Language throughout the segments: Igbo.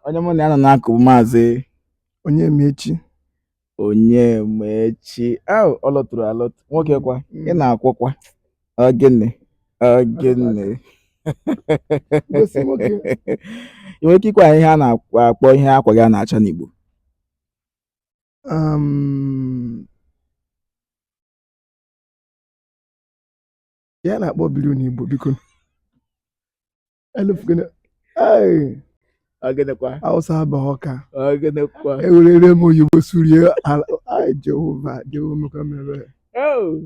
onye mụ na ya nọ n'akụ bụ maazị Onyemaechi Onyemaechi ahụ ọ lọtụrụ alọtụ nwoke kwa ị na-akwọkwa ogene ogene Gosi nwoke. ị nwere ike ịgwa anyị ihe a na-akpọ ihe akwa gị a na-acha n'Igbo um, ihe a na-akpọ blue n'igbo biko elefugene ee ọ gịnịkwa awụsa abaghị Ọka ọ gịnịkwa ewerere m oyibo surie ala ai jehova jehova mekwa m ebere Oh,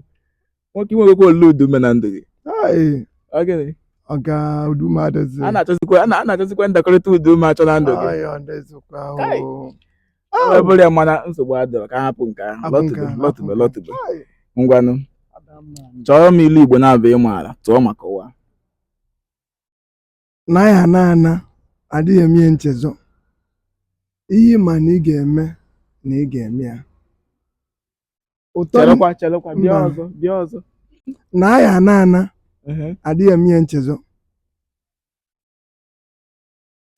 nwoke i nwegokwa olu ụdaume na ndụ gị ai ọ gịnị ọga ụdaume adịzi a na-achọzikwa a na- a na-achọzikwa ndakọrịta ụdaume achọ na ndụ gị ai ọ dịzikwa Kai. o Ọ bụrọ ya mana nsogbu adịrọ ka hapụ nke ahụ Hapụ nke lọtụbe ahụ, lọtụbe hapụ lọtụbe Ai, ngwanụ Adamma. chọrọ m ilu igbo na-abụ ị maara tụọ maka ụwa na anyị ana ana adịghị eme ihe nchezọ ihe ị ma na ị ga-eme na ị ga-eme ya ụtọ chelụkwa chelụkwa bịa Mba. ọzọ bịa ọzọ na anyị ana ana Ehe. adịghị eme ihe nchezọ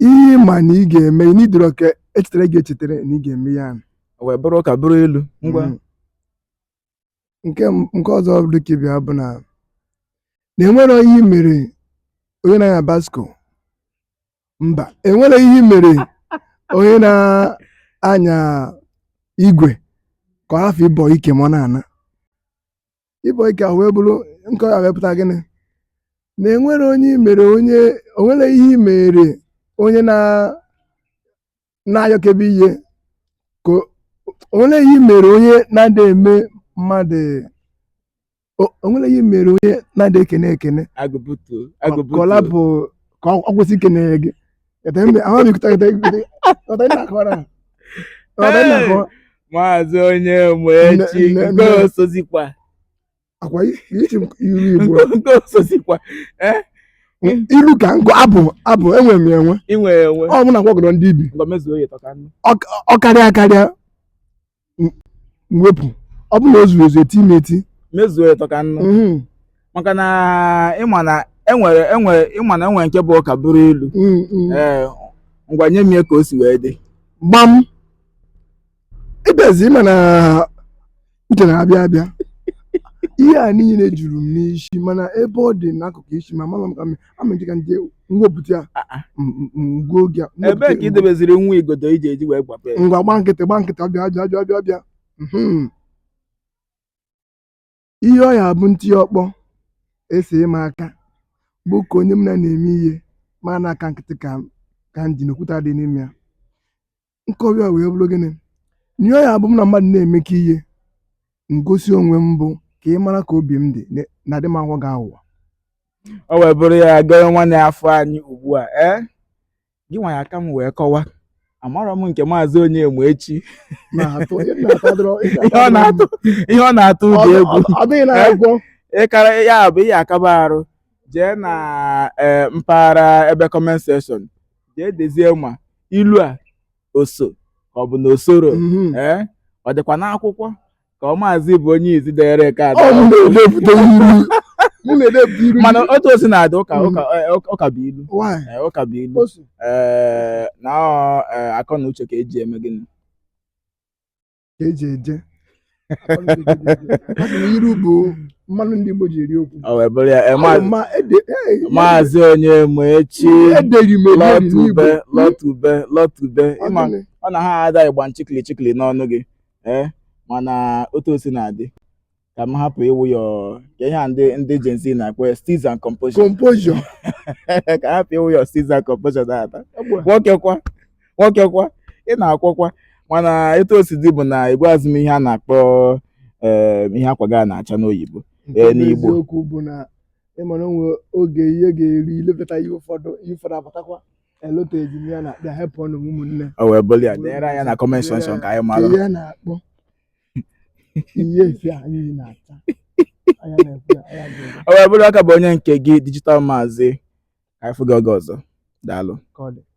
ihe ị ma na ị ga-eme ị n'idoro ka e chetara gị echetara na ị ga-eme ya ahụ. O wee bụrụ ụka bụrụ ilu ngwa Mm. nke m- nke ọzọ dị ka ibe ya bụ na na enwere ihe i mere onye na-anya basko mba enwere ihe i mere onye na-anya igwe ka ọ hafụ ịbọ ike ma ọ na-ana ịbọ ike ahụ wee bụrụ nke ọ ya wee pụta gịnị na enwere onye i mere onye o nwere ihe i mere onye na na-ayọkebe ihe ka o- o nwere ihe i mere onye na-adị eme mmadụ o o nwere ihe i mere onye na-adị ekene ekene agụbutu ka ọ agụbutu lapụ ka ọ ọ kwụsị ikene gị maazị Onyemaechi nke osozikwa ọ kwa i ji ilu igbo nke osozikwa eh? ilu ka nkụ abụ abụ enwe m enwe ọ bụ na gwagọrọ ndị ibi ọ karịa karịa m wepụ ọ bụrụ na o zurọ ezu eti m eti mezuo ya tọ ka nnu Mhm, maka na ị ma na enwere enwere ị ma na enwere nke bụ ụka bụrụ ilu mhm, mhm. ee ngwa nye m ya ka o si wee dị gbam ịbịazi ị ma na uche na-abịa abịa ihe a niile juru m n'isi mana ebe ọ dị n'akụkụ isi ma amarọ m ka m amejiga ndị mwepụta ya Ah, ah. m- m- m- ngwa oge a, m wepụta ebee ka ya, ị debeziri nwa igodo iji eji wee gbape ya? ngwa gba nkịtị gba nkịtị ọbịa ọbịa ọbịa ọbịa ọbịa Mhm. ihe ọ ya bụ m tie ya ọkpọ esi m aka bụ ka onye m na na-eme ihe ma na aka nkịtị ka m- ka m ji na okwute adị n'ime ya nkọwa ya wee bụrụ gịnị na ihe ọ ya bụ m na mmadụ na-emekọ ihe m gosi onwe m bụ ka ị mara ka obi m dị na- na adị m aghọ gị aghụghọ o wee bụrụ ya gọrọ nwanne ya afọ anyị ugbu a ee gị nwa ya-aka m wee kọwa amarọ m nke maazị Onyemaechi na-atụ ihe m na-atụ adịrọ- ihe ihe ọ na-atụ ihe ọ na-atụ Ọ ụdị dị- egwu ọ- ọ dịghị na-agwọ ị kara ya bụ ihe akaba arụ jee na ee, mpaghara ebe comment section jee dezie ma ilu a o so ka ọ bụ na o soro Mhm. ee ọ dịkwa n'akwụkwọ ka ọ maazị bụ onye izizi dere nke a Ọ mụ na-edepụta ilu. Mụ na-edepụta ilu. mana otu o si na-adị ụka Mhm. ụka eh, ụka- ụka bụ ilu Why? Eh, ụka bụ ilu O so. ee na ọ eh, akọ na uche ka eji eme gịnị ka eji eje Akọ na uche ka eji eje. A sị na ilu bụ mmanụ ndị Igbo ji eri okwu ọ wee bụrụ ya eh, Ọ ma- ma ede- eh, maazị Onyemaechi ederi m ederi n'Igbo. lotebe lotebe lotebe Ọ ịma gịnị? ọ na ha ada ịgba nchikili chikili n'ọnụ gị ee mana otu o si na-adị ka m hapụ ịwụ ya ọ- ka ihe a ndị ndị Gen Z na-akpọ ya steeze and composure composure ka hapụ ịwụ ya steeze and composure data nwoke kwa nwoke kwa ị na-akwọkwa mana etu o si dị bụ na ị gwazi m ihe a na-akpọ eh, ihe akwa gị a na-acha n'oyibo nke Ee, bụ n'Igbo. eziokwu bụ na ị mara o nwe oge ihe ga-eri ilefeta ihe ụfọdụ ihe ụfọdụ abatakwa elotezi m ya na bịa hepụ ọnụ m ụmụnne o wee bụrụ ya deere anyị na comment section ka anyị ka mara ihe a na-akpọ ihe efe anyị na-acha anya na-ekwu ya anya ga-ere ọ wee bụrụ aka bụ onye nke gị digital maazị ka anyị fụ gị oge ọzọ daalụ ka ọ dị